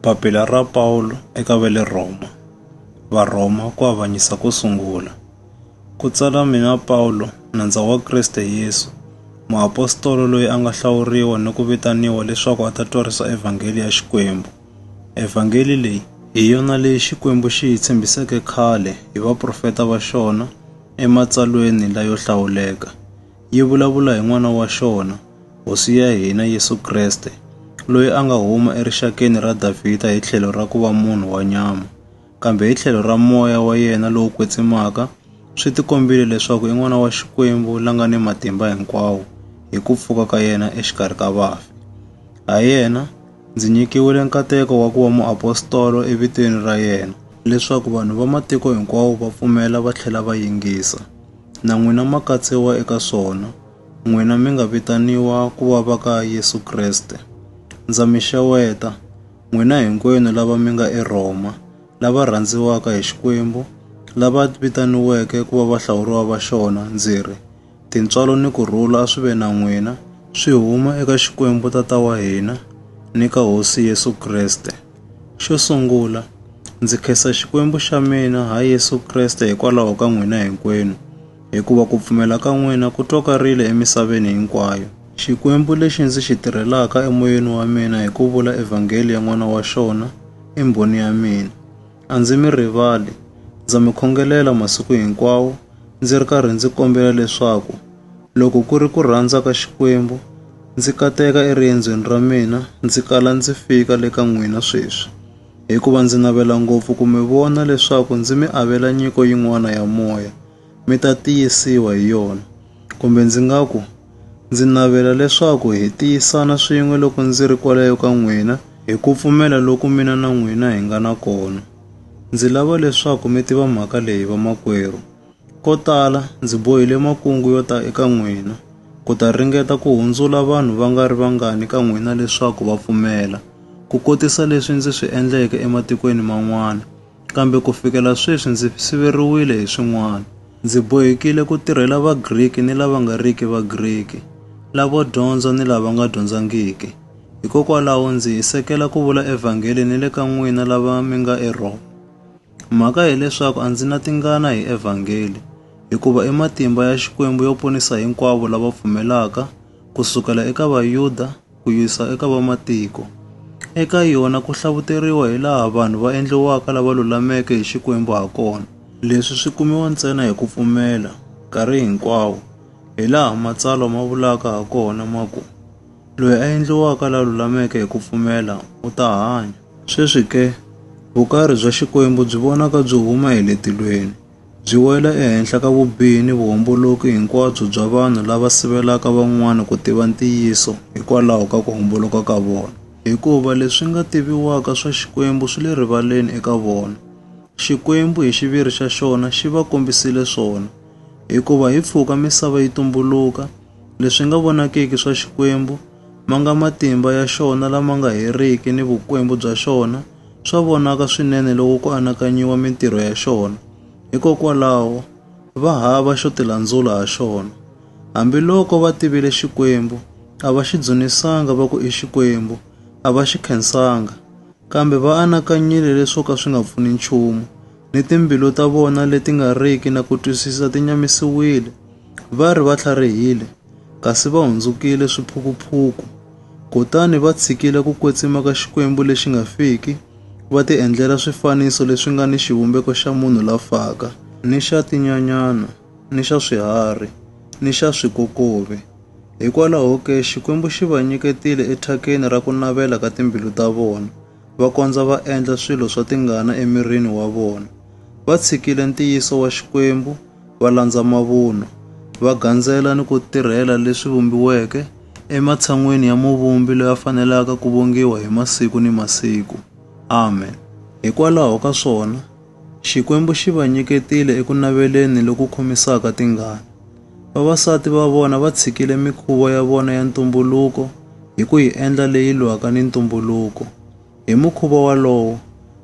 Papila ra Pawulo eka va le Rhoma Varhoma ku avanyisa ko sungula ku tsala mina Pawulo nandza wa Kriste Yesu muapostolo loyi a nga hlawuriwa ni ku vitaniwa leswaku a ta twarisa evhangeli ya Xikwembu evhangeli leyi hi yona leyi Xikwembu xi yi tshembiseke khale hi vaprofeta va xona ematsalweni layo hlawuleka yi vulavula hi N'wana wa xona, Hosi ya hina Yesu Kreste, loyi a nga huma erixakeni ra Davhida hi tlhelo ra ku va munhu wa nyama, kambe hi tlhelo ra moya wa yena lowo kwetsimaka swi tikombile leswaku i N'wana wa Xikwembu la nga ni matimba hinkwawo hi ku pfuka ka yena exikarhi ka vafi. Ha yena Ndzi nyikiwile nkateko wa ku va muapostolo evitweni ra yena, leswaku vanhu va matiko hinkwawo va pfumela va tlhela va yingisa. Na n'wina ma katsiwa eka swona, n'wina mi nga vitaniwa ku va va ka Yesu Kreste. Ndza mi xeweta, n'wina hinkwenu lava mi nga eRhoma, lava rhandziwaka hi Xikwembu, lava vitaniweke ku va vahlawuriwa va xona, ndzi ri, Tintswalo ni ku rhula a swi ve na n'wina, swi huma eka Xikwembu Tata wa hina ni ka Hosi Yesu Kreste. Xo sungula, ndzi khensa Xikwembu xa mina ha Yesu Kreste hikwalaho ka n'wina hinkwenu, hikuva ku pfumela ka n'wina ku twakarile emisaveni hinkwayo. Xikwembu lexi ndzi xi tirhelaka emoyeni wa mina hi ku vula evhangeli ya N'wana wa xona i mbhoni ya mina. A ndzi mi rivali, ndza mi khongelela masiku hinkwawo ndzi ri karhi ndzi kombela leswaku loko ku ri ku rhandza ka Xikwembu ndzi kateka eriendzweni ra mina ndzi kala ndzi fika le ka n'wina sweswi, hikuva ndzi navela ngopfu ku mi vona leswaku ndzi mi avela nyiko yin'wana ya moya. mi ta tiyisiwa hi yona. Kumbe ndzi nga ku, Ndzi navela leswaku hi tiyisana swin'we loko ndzi ri kwalayo ka n'wina, hi ku pfumela loku mina na n'wina hi nga na kona. Ndzi lava leswaku mi tiva mhaka leyi, vamakwerhu. Ko tala ndzi bohile makungu yo ta eka n'wina, ku ta ringeta ku hundzula vanhu va nga ri vangani ka n'wina leswaku va pfumela, ku kotisa leswi ndzi swi endleke ematikweni man'wana. Kambe ku fikela sweswi ndzi siveriwile hi swin'wana. Ndzi bohekile ku tirhela Vagriki ni lava nga riki Vagriki, lavo dyondza ni lava nga dyondzangiki. Hikokwalaho ndzi hisekela ku vula evhangeli ni le ka n'wina lava mi nga eRhoma. Mhaka hi leswaku a ndzi na tingana hi evhangeli, hikuva i matimba ya Xikwembu yo ponisa hinkwavo lava pfumelaka, ku sukela eka Vayuda, ku yisa eka vamatiko. Eka yona ku hlavuteriwa hi laha vanhu va endliwaka lava lulameke hi Xikwembu ha kona. Leswi swi kumiwa ntsena hi ku pfumela, nkarhi hinkwawo, hi laha Matsalwa ma vulaka ha kona ma ku, Loyi a endliwaka la lulameke hi ku pfumela u ta hanya. Sweswi ke, vukarhi bya Xikwembu byi vonaka byi huma hi le tilweni. byi wela ehenhla ka vubihi ni vuhomboloki hinkwabyo bya vanhu lava sivelaka van'wana ku tiva ntiyiso hikwalaho ka ku homboloka ka vona. Hikuva leswi nga tiviwaka swa Xikwembu swi le rivaleni eka vona. Xikwembu hi xiviri xa xona xi va kombisile swona. Hikuva hi pfuka misava yi tumbuluka, leswi nga vonakiki swa Xikwembu, ma nga matimba ya xona lama nga heriki ni vukwembu bya xona, swa vonaka swinene loko ku anakanyiwa mintirho ya xona. Hikokwalaho, va hava xo tilandzula ha xona. Hambiloko va tivile Xikwembu, a va xi dzunisanga va ku i Xikwembu, a va xi khensanga. Kambe va anakanyile leswo ka swi nga pfuni nchumu, ni timbilu ta vona leti nga riki na ku twisisa ti nyamisiwile. Va ri va tlharihile, kasi va hundzukile swiphukuphuku. Kutani va tshikile ku kwetsima ka Xikwembu lexi nga fiki, va tiendlela swifaniso leswi nga ni xivumbeko xa munhu la faka, ni xa tinyanyana, ni xa swiharhi, ni xa swikokovi. Hikwalaho ke, Xikwembu xi va nyiketile ethakeni ra ku navela ka timbilu ta vona, va kondza va endla swilo swa tingana emirini wa vona. Va tshikile ntiyiso wa Xikwembu, va landza mavunwa, va gandzela ni ku tirhela leswi vumbiweke ematshan'weni ya Muvumbi loyi a fanelaka ku vongiwa hi masiku ni masiku. Amen. Hikwalaho ka swona, Xikwembu xi va nyiketile eku naveleni loku khomisaka tingana. Vavasati va vona va tshikile mikhuvo ya vona ya ntumbuluko hi ku yi endla leyi lwaka ni ntumbuluko. Hi mukhuva walowo,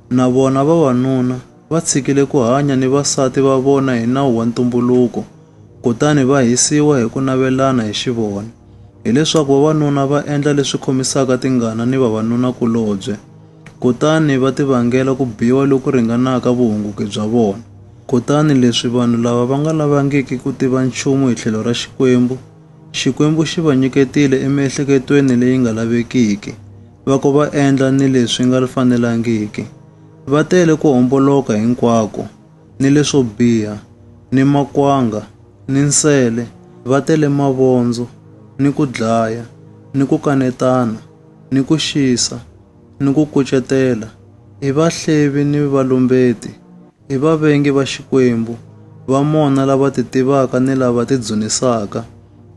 na vona vavanuna va tshikile ku hanya ni vasati va vona hi nawu wa ntumbuluko kutani va hisiwa hi ku navelana hi xivona, hileswaku vavanuna va endla leswi khomisaka tingana ni vavanuna-kulobye kutani va tivangela ku biwa loku ringanaka vuhunguki bya vona. Kutani leswi vanhu lava va nga lavangiki ku tiva nchumu hi tlhelo ra Xikwembu, Xikwembu xi va nyiketile emiehleketweni leyi nga lavekiki, va ko va endla ni leswi nga fanelangiki. Va tele ku homboloka hinkwako, ni leswo biha, ni makwanga, ni nsele, va tele mavondzo, ni ku dlaya, ni ku kanetana, ni ku xisa, ni ku kucetela, i vahlevi ni valumbeti, i vavengi va Xikwembu, va mona lava ti tivaka ni lava ti dzunisaka,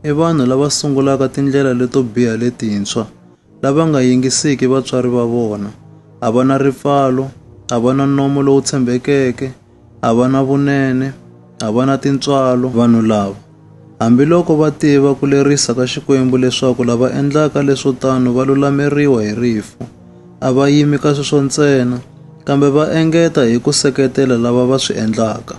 i vanhu lava sungulaka tindlela leto biha letintshwa. lava nga yingisiki vatswari va vona, a va na ripfalo, a va na nomo lowu tshembekeke, a va na vunene, a va na tintswalo. Vanhu lava, hambiloko va tiva ku lerisa ka Xikwembu leswaku lava endlaka leswo tano va lulameriwa hi rifu, a va yimi ka sweswo ntsena, kambe va engeta hi ku seketela lava va swi endlaka.